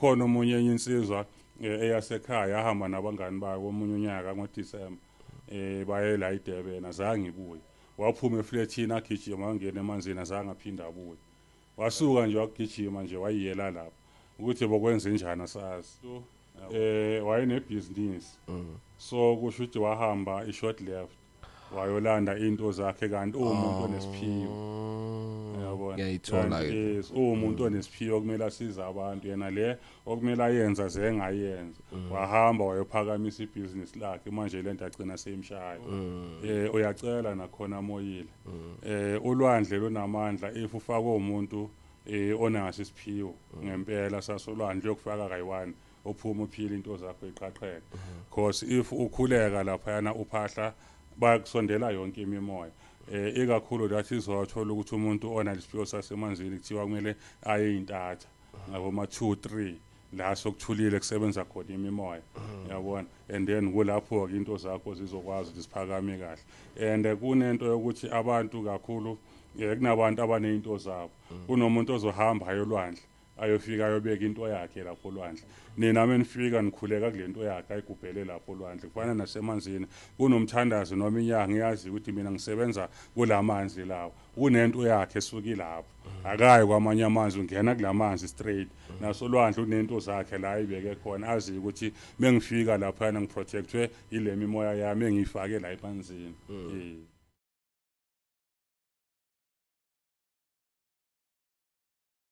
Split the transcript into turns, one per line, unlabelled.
Khona omunye enye insizwa eh, eyasekhaya yahamba nabangani bayo komunye unyaka ngoDisemba eh baye la iDurban azange ibuye waphuma eflethini agijima wangena emanzini azange aphinde abuye wasuka nje wagijima nje wayiyela lapho ukuthi bokwenze njani asazi eh wayenebhizinisi so kusho ukuthi wahamba i-short left wayolanda into zakhe kanti uwumuntu onesiphiwo oh, yabona ngiyayithola
yes uwumuntu
mm. onesiphiwo kumele asize abantu yena le okumele ayenza zengayenza mm. wahamba wayophakamisa ibusiness lakhe manje lento agcina seyimshaya mm. eh uyacela nakhona moyile eh ulwandle lonamandla if ufakwe umuntu eh onaso isiphiwo ngempela sasolwandle yokufaka kayi-1 uphume uphile into zakho iqhaqheke because if ukhuleka laphayana uphahla bayakusondela yonke imimoya eh ikakhulu that izowathola ukuthi umuntu ona lesiphiwo sasemanzini kuthiwa kumele aye intatha ngabo ma 2 3 la sokuthulile kusebenza khona imimoya yabona and then kulapho ke into zakho zizokwazi ukuthi siphakame kahle and eh, kunento yokuthi abantu kakhulu eh, kunabantu abanezinto zabo kunomuntu ozohamba ayolwandle Ayofika ayobeka into yakhe lapho olwandle. Nina menifika nikhuleka kule nto yakhe ayigubhele lapho olwandle. Kufana nasemanzini. Kunomthandazi noma inyanga iyazi ukuthi mina ngisebenza kula manzi lawa. Kunento yakhe esuka ilapho. Akayi kwamanye amanzi ungena kula manzi straight. Nasolwandle unento zakhe la ayibeke khona aziyo ukuthi mengifika laphayana ngiprotectwe yile mimoya yami engiyifake la emanzini. Eh.